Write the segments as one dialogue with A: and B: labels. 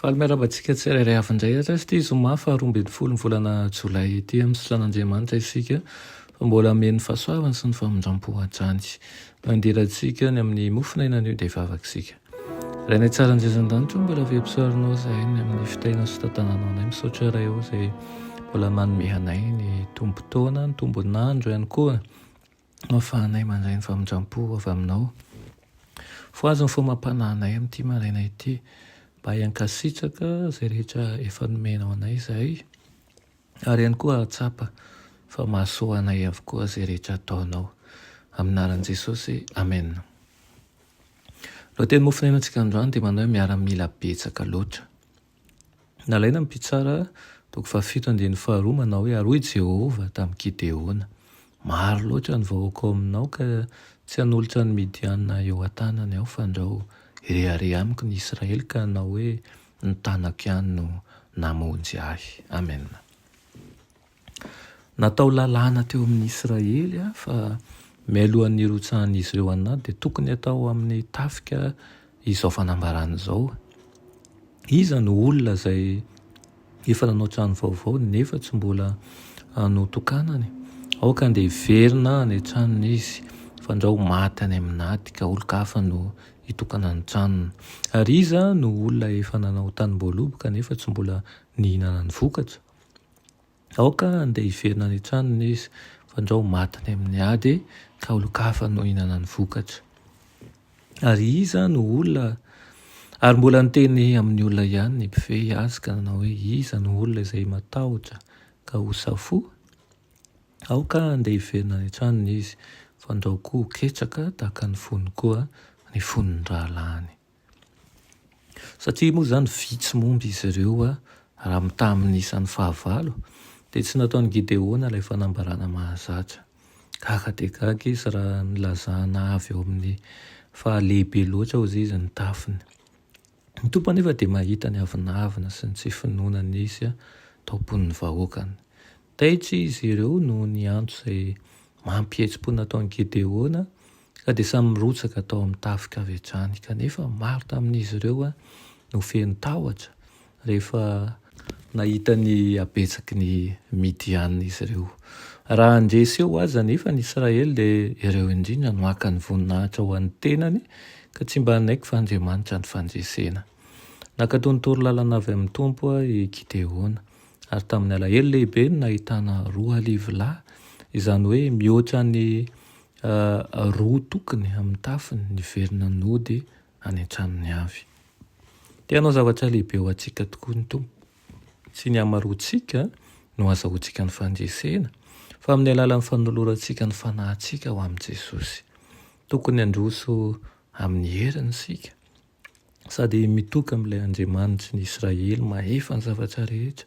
A: Faly miarahaba antsika tsirairay avy indray ary azy ity zoma faha roa ambin'ny folo ny volana jolay ity amin'ny sitranaNdriamanitra isika fa mbola hameno ny fahasoavany sy ny famindrampo hatrany mandira antsika ny amin'ny mofon'aina anio dia vavaka isika Ray nay tsara anjezindanitra mbola avempisarinao zahay ny amin'ny fitainao sy tantananao anay misaotra ray o zay mbola manome anay ny tombotaona ny tombonandro ihany koa Ahafahanay mandray ny famindram-po avy Aminao. Voahaja ny fombam-panahinay amin'ity maraina ity. Mba hiankasitraka izay rehetra efa nomenao anay izahay, ary ihany koa hahatsapa fa mahasoa anay avokoa izay rehetra ataonao. Amin'ny anaran'i Jesosy, amena. Lohateny mofon'aina antsika androany dia manao hoe miaramila betsaka loatra. Nalaina ny mpitsara, toko fahafito andininy faharoa, manao hoe, Ary hoy i Jehovah tamin'i Gideona, Maro loatra ny vahoaka ao aminao ka tsy hanolotra ny Midianina eo an-tanany aho, fandrao, hirehareha amiko ny Israely ka hanao hoe, Ny tanako ihany no namonjy ahy. Amena. Natao lalàna teo amin'ny Israely fa mialohan'ny hirotsahan'izy ireo an'i Nady dia tokony hatao amin'ny tafika izao fanambarana izao. Iza no olona izay efa nanao trano vaovao nefa tsy mbola notokanany? Aoka andeha hiverina any an-tranony izy fandrao maty any amin'ny Nady ka olon-kafa no hitokana ny tranony. Ary iza no olona efa nanao tanimboaloboka nefa tsy mbola nihinana ny vokatra? Aoka handeha hiverina any an-tranony izy, fandrao ho maty any amin'ny ady ka olon-kafa no hihinana ny vokatra. Ary iza no olona? Ary mbola niteny amin'ny olona ihany ny mpifehy azy ka nanao hoe, Iza no olona izay matahotra ka ho safoa? Aoka handeha hiverina any an-tranony izy, fandrao koa ho ketraka tahaka ny fony koa ny fon'ny rahalahiny. Satria moa izany vitsy momba izy ireo raha mitaha amin'ny isan'ny fahavalo, dia tsy nataon'i Gideona ilay fanambarana mahazatra. Gaga dia gaga izy raha nilazana avy ao amin'ny fahalehibe loatra hozy izy ny tafiny. Ny Tompo anefa dia mahita ny avonavona sy ny tsy finoana nisy tao am-pon'ny vahoakany. Taitra izy ireo noho ny antso izay mampihetsi-po nataon'i Gedeona, ka dia samy nirotsaka tao amin'ny tafika avy hatrany. Kanefa, maro tamin'izy ireo no feno tahotra rehefa nahita ny habetsaky ny Midianina izy ireo. Raha handresy eo aza anefa ny Israely, dia ireo indrindra no haka ny voninahitra ho an'ny tenany, ka tsy mba hanaiky fa Andriamanitra no fandresena. Nankatò ny torolalana avy amin'ny Tompo i Gedeona. Ary tamin'ny alahelo lehibe no nahitana roa arivo lahy, izany hoe mihoatra ny roa tokony amin'ny tafiny, niverina nody any an-tranony avy. Te hanao zavatra lehibe ho antsika tokoa ny Tompo. Tsy ny hamaroantsika no hazahoantsika ny fandresena, fa amin'ny alalan'ny fanolorantsika ny fanahintsika ho amin'i Jesosy. Tokony handroso amin'ny heriny isika. sady mitoka amin'ilay Andriamanitry ny Israely mahefa ny zavatra rehetra.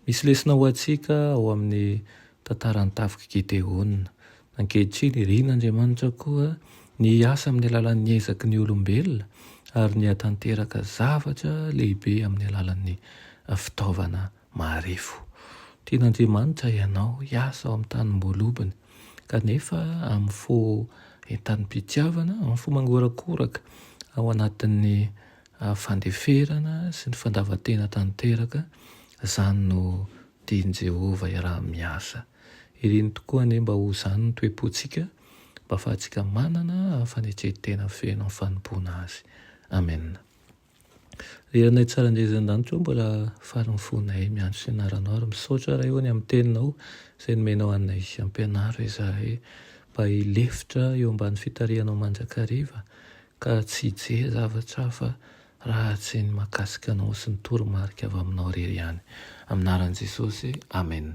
A: Misy lesona ho antsika ao amin'ny tantaran'ny tafik'i Gedeona. Ankehitriny, irin'Andriamanitra koa ny hiasa amin'ny alalan'ny ezaky ny olombelona ary ny hahatanteraka zavatra lehibe amin'ny alalan'ny fitaovana Marefo. Tian'Andriamanitra ianao hiasa ao amin'ny tanim-boalobany, kanefa amin'ny fo entanim-pitiavana, amin'ny fo mangorakoraka, ao anatin'ny fandeferana sy ny fandavan-tena tanteraka, izany no tian'i Jehovah hiaraha-miasa. Iriny tokoa anie mba ho izany ny toe-pontsika, mba hahafahantsika manana fanetren-tena feno amin'ny fanompoana azy. Amena. Ry Ranay tsara indray izay an-danitra ao mbola faly ny fonay miandry fianaranao ary misaotra Ray o ny amin'ny teninao izay nomenao anay hampianaro izahay mba hilefitra eo ambany fitarihanao mandrakariva ka tsy hijery zavatra hafa raha tsy ny mahakasika anao sy ny toromarika avy aminao irery ihany. Amin'ny anaran'i Jesosy, Amen.